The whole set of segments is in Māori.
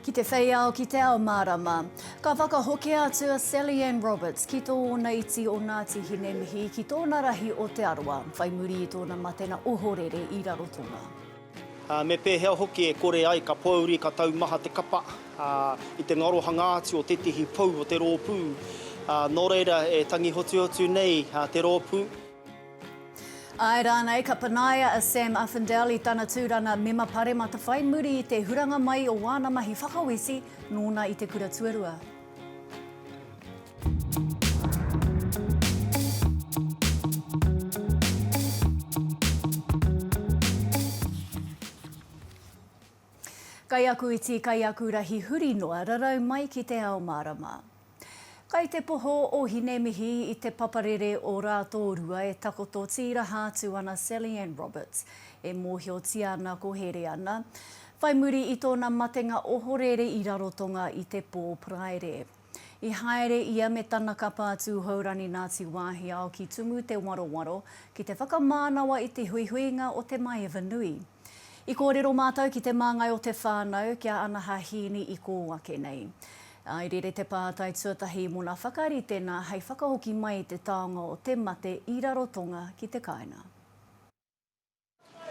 Ki te whei ao, ki te ao mārama. Ka whakahokia atu a Sally Ann Roberts ki tōna iti o Ngāti Hinemihi ki tōna rahi o Te Arawa, whai muri i tōna matena ohorere i Rarotonga. Ā, me pēhea hoki e kore ai ka pōuri, ka taumaha te kapa, ā, i te ngarohanga atu o tētehi pou o te rōpū, ā, nō reira e tangi hotuhotu nei te rōpū. Āe rānei, ka panaia a Sam Uffindell i tana tūranga Mema Paremata whai muri i te huranga mai o wāna mahi whakaweti nōna i te kura tuarua. Kaiakuiti, kaiakurahi huri noa, rarau mai ki te ao mārama. Kai te poho o Hinemihi i te paparere o Rātōrua e takoto tīraha atu ana Sally-Anne Roberts, e mōhiotia ana ko Hereana. Whai muri i tōna matenga ohorere i Rarotonga i te pō Paraire. I haere ia me tana kapa a Tūhourani Nāti Wāhiao ki Tumu Te Warowaro ki te whakamānawa i te huihuinga o te maeva nui. I kōrero mātou ki te māngai o te whānau kia anaha hīni i kō ake nei. I rere te pātai tuatahi mōna whakaritenga hei whakahoki mai i te taonga o te mate i Rarotonga ki te kāinga.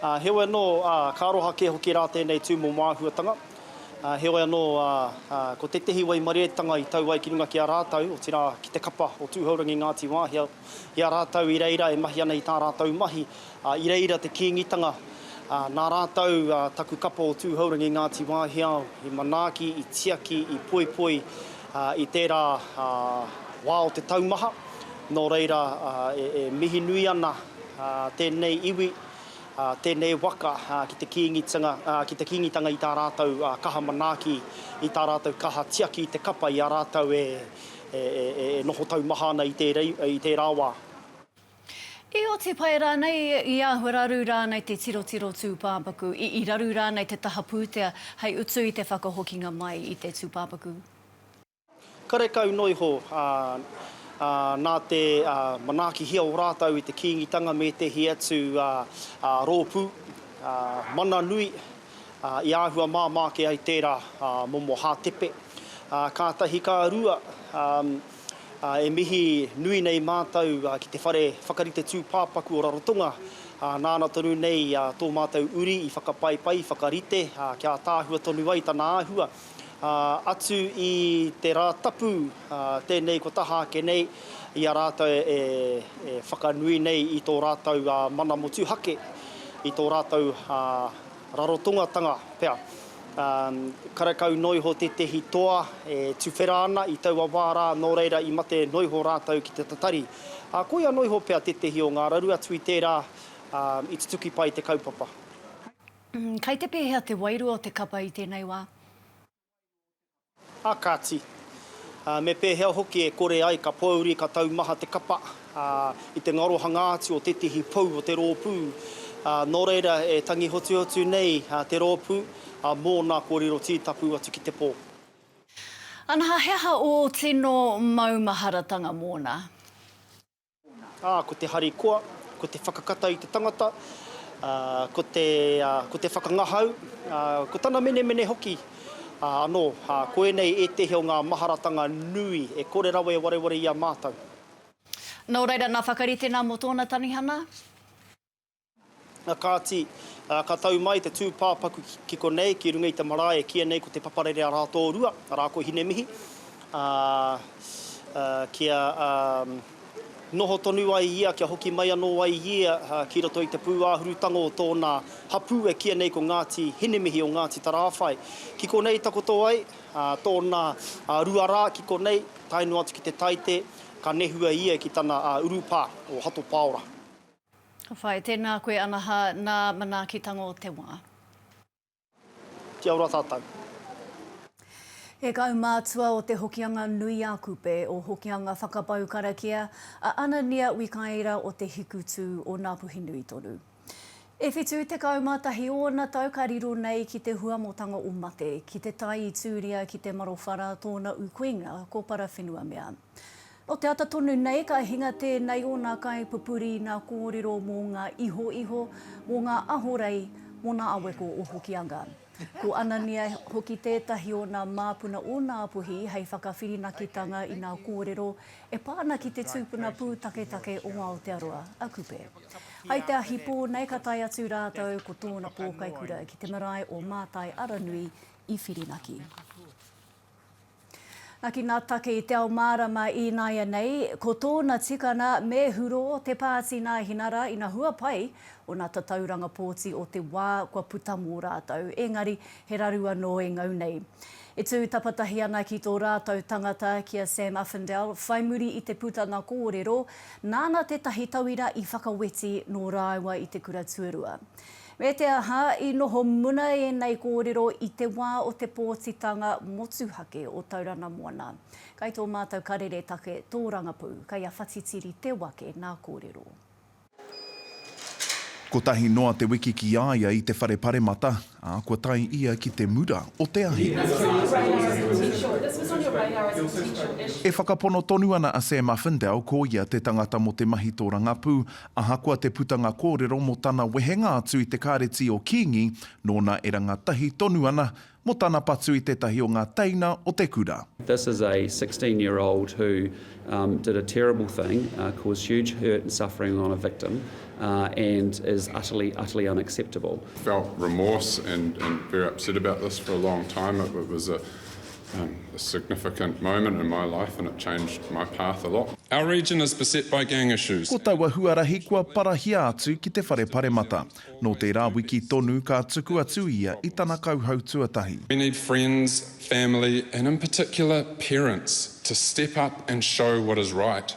Ā, heoi anō, ā, ka aroha kē hoki rā tēnei tū mō māhuatanga. Ā, heoi anō, ā, ā, ko tētehi waimareetanga i tau ai ki runga ki a rātou, otirā, ki te kapa o Tūhourangi Ngāti Wāhia, i a rātou i reira e mahi ana i tā rātou mahi, ā, i reira te Kīngitanga, ā, nā rātou, ā, taku kapa o Tūhourangi Ngāti Wāhiao i manaaki, i tiaki, i poipoi, ā, i tērā, ā, wā o te taumaha, nō reira, ā, e, e mihi nui ana, ā, tēnei iwi, ā, tēnei waka, ā, ki te Kīngitanga, ā, ki te Kīngitanga i tā rātou, ā, kaha manaaki, i tā rātou kaha tiaki i te kapa i a rātou e, e noho taumaha ana i tērei, i tērā wā. I oti pai rānei, i āhua raru rānei te tirotiro tūpāpaku, i, i raru rānei te taha pūtea hei utu i te whakahokinga mai i te tūpāpaku? Karekau noa iho, ā, ā, nā te, ā, manaakihia o rātou i te Kīngitanga me ētehi atu, ā, ā, rōpū, ā, mana nui, I āhua māmā ake ai tērā momo hātepe. Kātahi ka rua, e mihi nui nei mātou ki te whare whakarite tūpāpaku o Rarotonga, nāna tonu nei tō mātou uri i whakapaipai, whakarite, kia ataahua tonu ai tana āhua. atu i te Rātapu tēnei kua taha ake nei i a rātou e whakanui nei i tō rātou mana motuhake, i tō rātou rarotongatanga pea. Karekau noa iho tētehi toa e tuwhera ana i taua wā rā, nō reira i mate noa iho rātou ki te tatari. Ā, koia noa iho pea tētehi o ngā raru atu i tērā i tutuki pai te kaupapa. Kei te pēhea te wairua o te kapa i tēnei wā? A kāti. A, me pēhea hoki e kore ai ka pōuri, ka taumaha te kapa, a, i te ngarohanga atu o tētehi pou o te rōpū. A, nō reira e tangi hotuhotu nei a, te rōpū, a, mōna kōrero tītapu atu ki te pō. Ana, he aha ō tino maumaharatanga mōna? Ā, ko te harikoa, ko te whakakata i te tangata, ā, ko te, ā, ko te whakangahau, ā, ko tana menemene hoki, ā, anō, ā, ko ēnei ētehi o ngā maharatanga nui e kore rawa e wareware i a mātou. Nō reira, nā Whakaritenga mō tōna tanihana. Kāti, ka tau mai te tūpāpaku ki konei, ki runga i te marae e kīia nei ko Te Paparere a Rātōrua, arā ko Hinemihi, ā, kia noho tonu ai ia, kia hoki mai anō ai ia ki roto i te pūāhurutanga o tōna hapū e kīia nei ko Ngāti Hinemihi o Ngāti Tarāwhai. Ki konei i takoto ai, tōna rua rā ki konei, tae noa atu ki te Taite, ka nehua ia ki tana urupā, o Hato Pāora. Ka whai, tēnā koe anaha nā manaaki tango te wā. Kia ora tātou. He kaumātua o Te Hokianga Nui a Kupe, o Hokianga Whakapau Karakia, a Anania Wikaira o Te Hikutū o Ngāpuhinui tonu. E whitu tekau mā tahi ōna tau ka riro nei ki te huamotanga o mate, ki te tae i Tūria ki Te Marowhara tōna ukuinga ko Parawhenuamea. Nō te ata tonu nei ka hinga tēnei o nā kaipupuri nā kōrero mō ngā ihoiho, mō ngā ahorei, mō nā aweko o Hokianga. Ko Anania hoki tētahi o nā māpuna o Nā Puhi hei whakawhirinakitanga i nā kōrero e pā ana ki te tūpuna pūtaketake o Aotearoa, a Kupe. Hai te ahi pō nei ka tae atu rātou ko tōna pōkaikura ki te marae o Mātai Aranui i Whirinaki. Naki nā take i te ao mārama i nāianei, ko tōna tikana me hurō te pāti nā Hinara ina hua pai ōna tatauranga pōti o te wā kua puta mō rātou, ēngari he raru anō e ngau nei. E tū tapatahi ana ki tō rātou tangata ki a Sam Uffindell whai muri i te putanga kōrero, nāna tētahi tauira i whakaweti nō rāua i te kura tuarua. Me te aha, i noho muna ēnei kōrero i te wā o te pōtitanga motuhake o Taurana Moana. Kai tō mātou karere take tōrangapū, kai a Whatitiri Te Wake nā kōrero. Kotahi noa te wiki ki a ia i te whare paremata, ā, kua tae ia ki te mura o te ahi. E whakapono tonu ana a Sam Uffindell ko ia te tangata mō te mahi tōrangapū, Ahakoa te putanga kōrero mō tana wehenga atu i te Kāreti o Kīngi, nōna e rangatahi tonu ana mō tana patu i tētahi o ngā teina o te kura. This is a sixteen year old who did a terrible thing, caused huge hurt and suffering on a victim and is utterly, utterly unacceptable. Felt remorse and very upset about this for a long time. It was a A significant moment in my life and it changed my path a lot. Our region is beset by gang issues. Ko taua huarahi kua parahia atu ki te Whare Paremata. Nō tērā wiki tonu ka tuku atu ia i tana kauhau tuatahi. We need friends, family and in particular parents to step up and show what is right.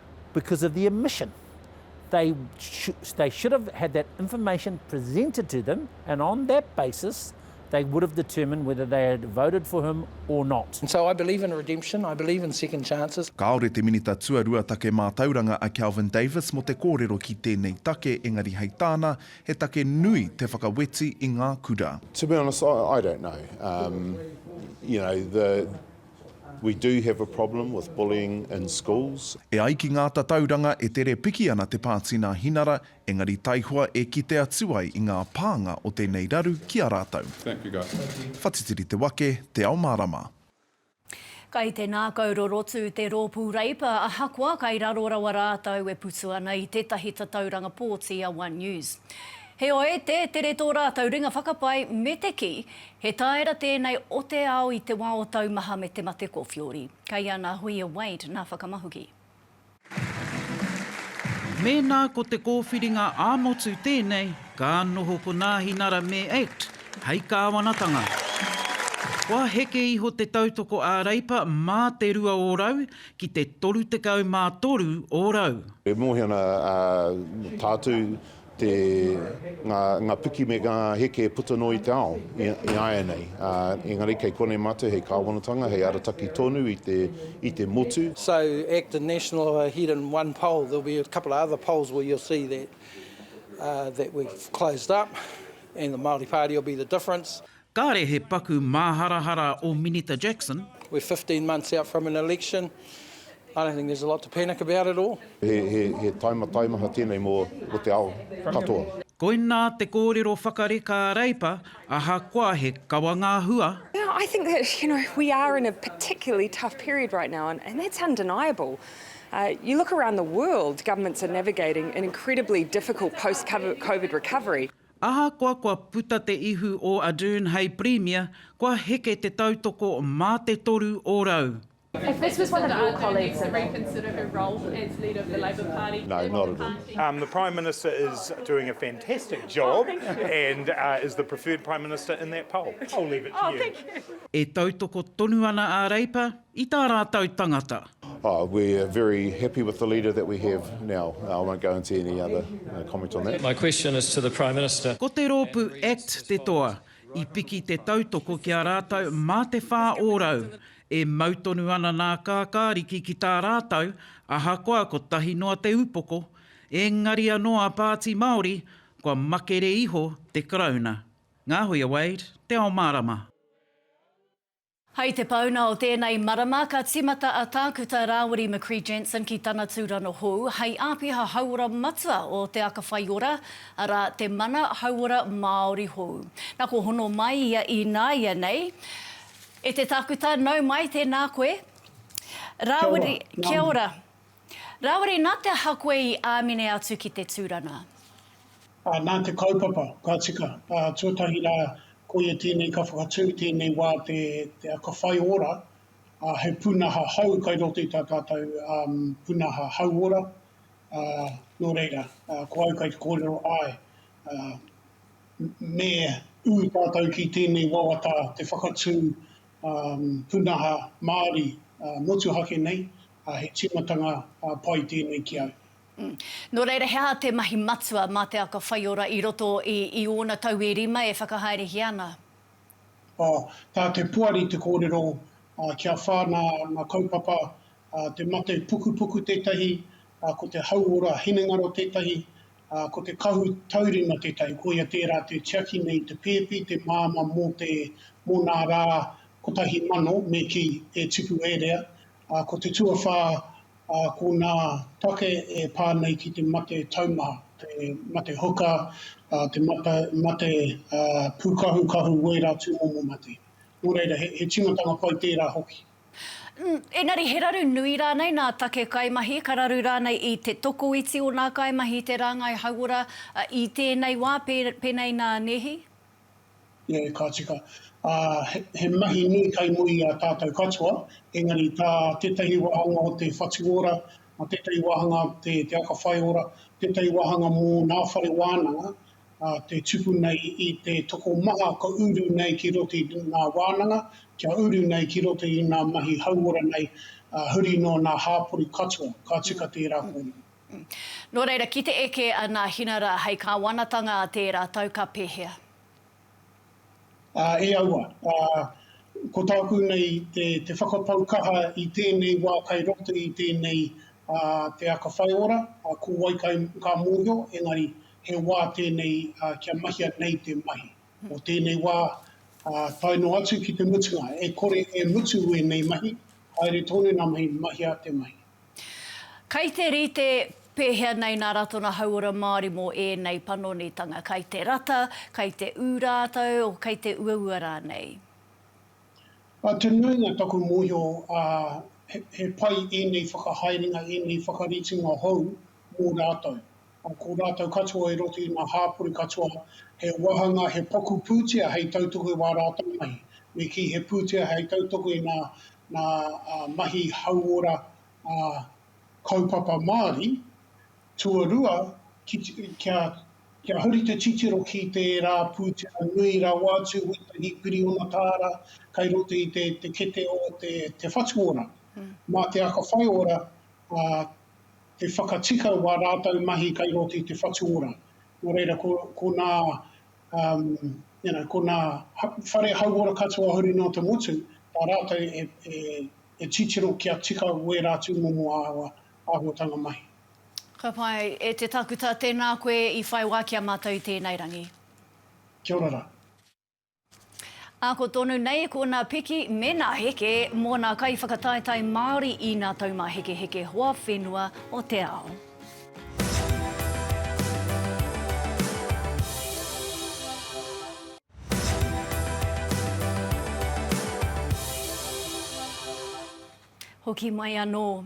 because of the omission. They, sh they should have had that information presented to them, and on that basis, they would have determined whether they had voted for him or not. And so I believe in redemption, I believe in second chances. Kāore te Minita Tuarua Take Mātauranga a Kelvin Davis mō te kōrero ki tēnei take engari hei tāna, he take nui te whakaweti i ngā kura. To be honest, I, I don't know. Um, you know, the, We do have a problem with bullying in schools. E ai ki ngā tatauranga e tere piki ana te pāti nā Hinara, engari taihoa e kite atu ai i ngā pānga o tēnei raru ki a rātou. Whatitiri te wake, te ao mārama. Kai te nākau rorotu te Rōpū Reipa ahakoa kai raro rawa rātou e putu ana i tētahi tatauranga pōti a One News. Heoi, tē tere tō rātou ringa whakapae me te kī, He tāera tēnei o te ao i te wā o taumaha me te mate kōwhiori. Kei a nā Huia Wade nā whakamahuki. Mēnā ko te kōwhiringa ā-motu tēnei, ka noho ko Nāhinara me act hei kāwanatanga. Kua heke iho te tautoko ā-Reipa mā te rua ōrau ki te toru tekau mā toru ōrau. E mōhio ana a Tātū te, ngā, ngā piki me ngā heke e puta noa i te ao i, i āianei. Ā, engari kei konei mātou hei kāwanatanga, hei arataki tonu i te, i te motu. So act a national of a head and one pole there'll be a couple of other poles where you'll see that uh that we've closed up and the Māori Party will be the difference. Kāre he paku māharahara o Minita Jackson. We're fifteen months out from an election, I don't think there's a lot to panic about at all. He taima taimaha tēnei mō te ao katoa. Koinā te kōrero whakareka a Reipa, ahakoa he kawa ngā hua. Yeah, I think that, you know, we are in a particularly tough period right now and that's undeniable. You look around the world, governments are navigating an incredibly difficult post-Covid recovery. Ahakoa kua puta te ihu o Ardern hei Pirimia, kua heke te tautoko mā te toru o rau. E tautoko tonu ana a Reipa. I tā rātou tangata. Oh, we're very happy with the leader that we have now. I won't go into any other comment on that. My question is to the Prime Minister. Ko te rōpū act te toa. I piki te tautoko ki a rātou mā te whā ōrau. E mau tonu ana nā Kākāriki ki tā rātou, ahakoa kotahi noa te upoko. Engari anō a Pāti Māori, kua makere iho te Karauna. Ngā hui a Wade, te ao mārama. Hei te pauna o tēnei marama, ka tīmata a Tākuta Rāwiri McCrea Jensen ki tana tūrano hou hei āpiha hauora matua o Te Aka Whai Ora, arā, te Mana Hauora Māori hou. Nā, kua hono mai ia ināianei. E te Tākuta, nau mai, tēnā koe. Rāwiri, kia ora. Rāwiri, nā te aha koe i āmine atu ki te tūranga? Ā, nā te kaupapa, ka tika. Ā, tuatahi rā, koia tēnei ka whakatū i tēnei wā te, te aka whai ora, ā, he pūnaha hou kai roto i tā tātou pūnaha hauora, ā, nō reira, ā, ko au kai te kōrero, āe, ā, me ū tātou ki tēnei wawata te whakatū, ā, pūnaha Māori, ā, motuhake nei, ā, he tīmatanga pai tēnei ki a au. Nō reira, he aha te mahi matua mā te aka whaiora i roto i ōna tau e rima e whakahaerehia ana? Ā, tā te poari te kōrero, ā, kia whā nā ngā kaupapa, ā, te mate pukupuku tētahi, ā, ko te hauora hinengaro tētahi, ā, ko te kahu taurima tētahi, koia tērā te tiaki nei i te pēpi, te māmā mō te, mō nā rā kotahi mano me kī, e tipu e rea, ā, ko te tuawhā, ā, ko ngā take e pā nei ki te mate taumaha, te mate huka, ā, te mate pūkahukahu wērā tūmomo mate. Nō reira, he tīmatanga pai tērā hoki. Engari he raru nui rānei nā take kaimahi, ka raru rānei i te tokoiti o nā kaimahi te rāngai hauora i tēnei wā, pēnei nā Nehi? Nē, ka tika. Ā, he mahi nui kai muri i a tātou katoa, engari tā tētahi wāhanga o te whatu ora, mā tētahi wāhanga te aka whai ora, tētahi wāhanga mō ngā whare wānanga, ā, te tupu nei i te tokomaha ka uru nei ki roto i ngā wānanga, kia uru nei ki roto i ngā mahi hauora nei, ā, huri noa nā hāpori katoa. Ka tika tērā kōrero. Nō reira, ki te eke a Nāhina rā hei kāwanatanga a tērā tau ka pēhea? Ā, e aua. Ā, ko tāku nei te, te whakapau kaha i tēnei wā kai roto i tēnei, ā, te aka whai ora, ā, ko wai kai ka mōhio, engari he wā tēnei, ā, kia mahia nei te mahi. Nō tēnei wā, ā, tae noa atu ki te mutunga, e kore e mutu ēnei mahi, haere tonu ngā mahi, mahia te mahi. Kai te rite pēhea nei nā Ratona Hauora Māori mō ēnei panonitanga, kai te rata, kai te ū rātou, kai te uaua rānei? Ā, te nuinga taku mōhio, ā, he pai ēnei whakahaerenga, ēnei whakaritinga hou mō rātou. Ko rātou katoa i roto i ngā hāpori katoa, he wāhanga, he paku pūtea hei tautoko i wā rātou mahi. Me kī, he pūtea hei tautoko i ngā mahi hauora kaupapa Māori. Tuarua, kia huri te titiro ki tērā pūtea nui rawa atu, wētahi piriona tāra kei roto i te kete o te whatuora. Mā te aka whaiora, He whakatika wā rātou mahi kai roto i te whatu ora. Nō reira, ko, ko nā, um, you know, ko nā whare hauora katoa huri noa te motu, tā rātou e, e, e titiro kia tika wērā atu momo āhua, āhuatanga mahi. Ka pai, e te takuta, tēnā koe i whai wā ki a mātou i tēnei rangi. Kia ora ra. Ako tonu nei ko nā piki me nā heke mō nā kaiwhakataetae Māori i nā taumāhekeheke hoa whenua o te ao. Hoki mai anō.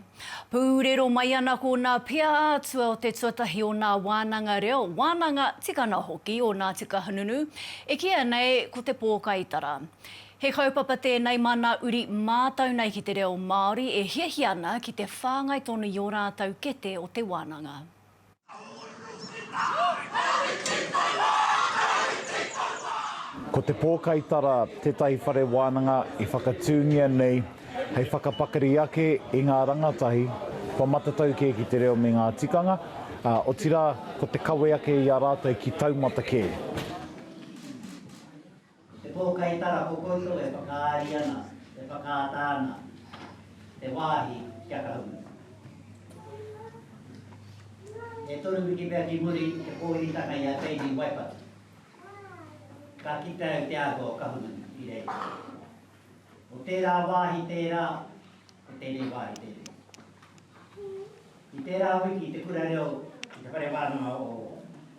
Pūrero mai ana ko nā pia ā-atua o te tuatahi o nā wānanga reo, wānanga tikana hoki o nā tika hununu, e kīia nei ko te pōkaitara. He kaupapa tēnei mā nā uri mātau nei ki te reo Māori e hiahia ana ki te whāngai tonu i ō rātau kete o te wānanga. Ko Te Pōkaitara tētahi whare wānanga i whakatūngia nei hei whakapakari ake i ngā rangatahi kua matatau kē ki te reo me ngā tikanga, ā, otirā ko te kawe ake i a rātou ki taumata kē. He pōkai tara ko koutou e whakaari ana, e whakaata ana te wāhi kia kahu. E toru wiki pea ki muri i te pōuritanga i a Baby Waipatu, ka kite au te āhua o Kahungunu i reira. Ko tērā wāhi tērā, ko tēnei wāhi tēnei. I tērā wiki i te kura reo i te whare wānanga o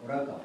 Raukawa.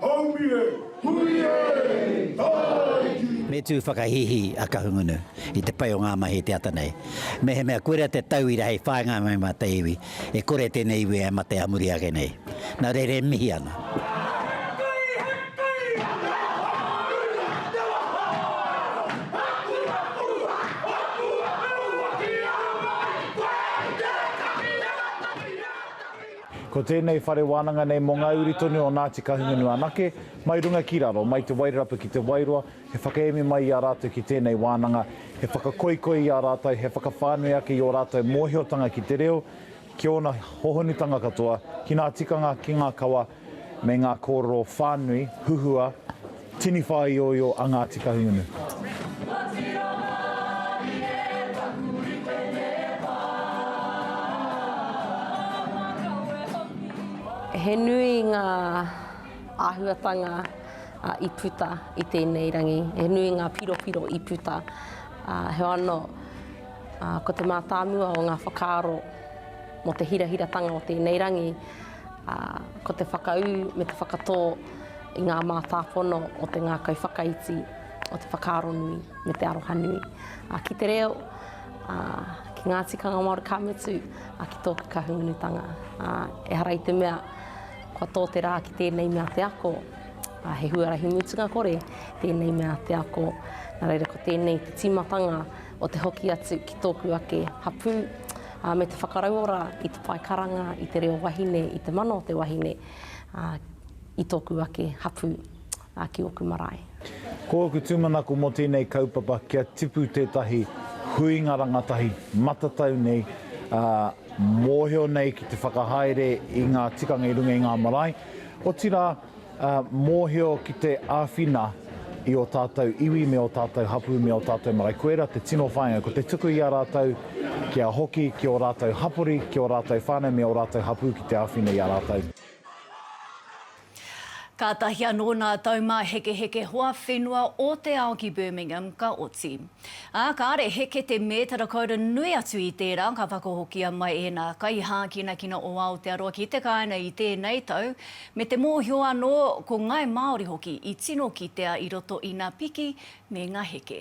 Haumi e! Hui e! Tāiki! Me tū whakahīhī a Kahungunu i te pai o ngā mahi te ata nei. Mehemea koirā te tauira hei whāinga mai mā te iwi, e kore tēnei iwi e mate ā muri ake nei. Nā reira e mihi ana. Ko tēnei whare wānanga nei mō ngā uri tonu o Ngāti Kahungunu anake, mai runga ki raro, mai Te Wairarapa ki Te Wairoa, he whakaemi mai i a rātou ki tēnei wānanga, he whakakoikoi i a rātou, he whakawhānui ake i ō rātou mōhiotanga ki te reo, ki ōna hohonutanga katoa, ki ngā tikanga, ki ngā kawa, me ngā kōrero whānui, huhua, Tini whāioio a Ngāti Kahungunu. He nui ngā āhuatanga i puta i tēnei rangi, he nui ngā piropiro i puta. Heoi anō, ko te mātāmua o ngā whakaaro mō te hirahiratanga o tēnei rangi, ā, ko te whakaū me te whakatō i ngā mātāpono o te ngākau whakaiti, o te whakaaro nui me te aroha nui. Ā, ki te reo, ā, ki ngā tikanga Māori ka mutu, ā, ki tōku Kahungunutanga. Ā, ehara i te mea, kua tō te rā ki tēnei mea te ako, ā, he huarahi mutunga kore tēnei mea te ako. Nā reira, ko tēnei te tīmatanga, o te hoki atu ki tōku ake hapū, ā, me te whakarauora i te pae karanga, i te reo wahine, i te mana o te wahine, ā, i tōku ake hapū, ā, ki ōku marae. Ko ōku tūmanako mō tēnei kaupapa kia tipu tētahi huinga rangatahi matatau nei, ā, mōhio nei ki te whakahaere i ngā tikanga i runga i ngā marae, otirā, ā, mōhio ki te āwhina i ō tātou iwi me ō tātou hapū me ō tātou marae. Koirā te tino whāinga, ko te tuku i a rātou kia hoki ki ō rātou hapori, ki ō rātou whānau me ō rātou hapū ki te āwhina i a rātou. Kātahi anō nā taumāhekeheke hoa whenua o te ao ki Birmingham ka oti. Ā, kāre heke te mētara koura nui atu i tērā ka whakahokia mai ēnā kaihākinakina o Aotearoa ki te kāinga i tēnei tau, Me te mōhio anō, ko Ngāi Māori hoki i tino kitea i roto i ngā piki me ngā heke.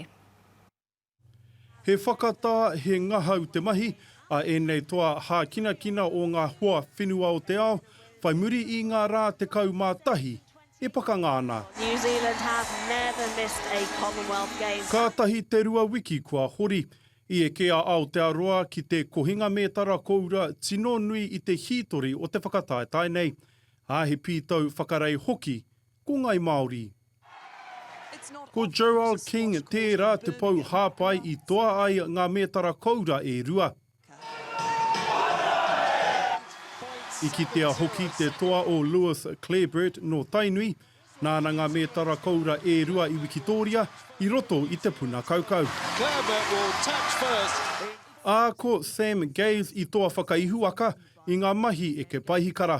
He whakatā, he ngahau te mahi a ēnei toa hākinakina o ngā hoa whenua o te ao, whai muri i ngā rā 11 e pakanga ana. Kātahi te rua wiki kua hori. I eke a Aotearoa ki te kohinga mētara koura tino nui i te hītori o te whakataetae nei, ā, he pītau whakarei hoki ko Ngāi Māori. Ko Joelle King tērā te pou hāpai i toa ai ngā mētara koura e rua. I kitea hoki te toa o Lewis Clareburt nō Tainui, Nāna ngā mētara koura e rua i wikitōria i roto i te puna kaukau. Ā, ko Sam Gaze i toa whakaihuwaka i ngā mahi eke paihikara.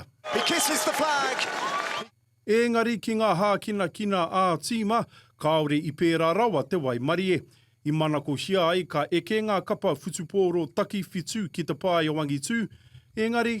Ēngari ki ngā hākinakina ā-tīma, kāore i pērā rawa te waimarie. I manakohia ai ka eke ngā kapa whutupōro takiwhitu ki te pae o angitū, ēngari,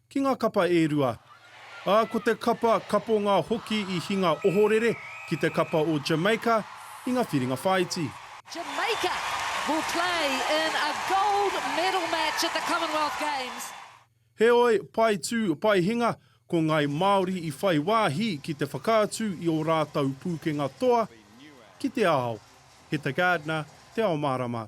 Ki ngā kapa e rua. Ā, ko te kapa kaponga hoki i hinga ohorere ki te kapa o Jamaica i ngā whiringa whāiti. Jamaica will play in a gold medal match at the Commonwealth Games. Heoi, pae tū, pae hinga, ko ngāi Māori i whai wāhi ki te whakaatu i ō rātou pūkenga toa ki te ao. Heta Gardner, Te Ao Mārama.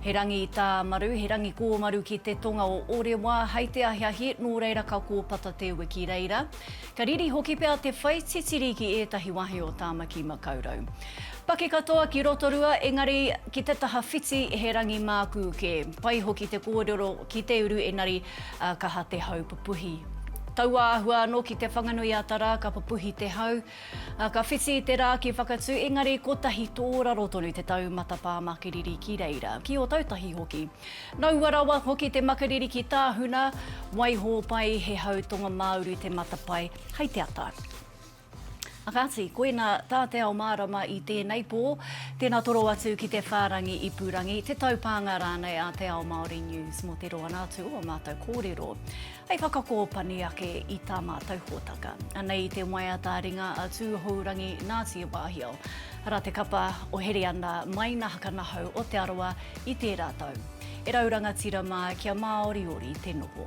He rangi tāmaru, he rangi kōmaru ki te tonga o Orewa, hai te ahiahi, nō reira ka kōpata te ue ki reira. Ka riri hoki pea te whai titiri ki ētahi wahi o Tāmaki Makaurau. Paki katoa ki Rotorua, engari ki te taha whiti he rangi mākū kē. Pai hoki te kōrero ki te uru enari kaha te hau pupuhi. Taua āhua anō ki Te Whanganui-a-Tara ka pupuhi te hau, Ka whiti i te rā ki Whakatū, engari kotahi tōraro tonu te taumata pā makariri ki reira, ki Ōtautahi hoki. Nō ua rawa hoki te makariri ki Tāhuna, waihō pai he hau tonga-mā-uru te matapae hei te ata. Kāti, koina tā Te Ao Mārama i tēnei pō, tēnā toro atu ki te whārangi ipurangi, te taupānga rānei a Te Ao Māori News mō te roanga atu o ō mātou kōrero. hei whakakōpani ake i tā mātou hōtaka. Anei i te waiata a ringa a Tūhourangi Nāti Wāhiao. Arā te kapa o Hereana Maina Hakanahau o Te Arawa i tērā tau. E rau rangatira mā kia māoriori te noho.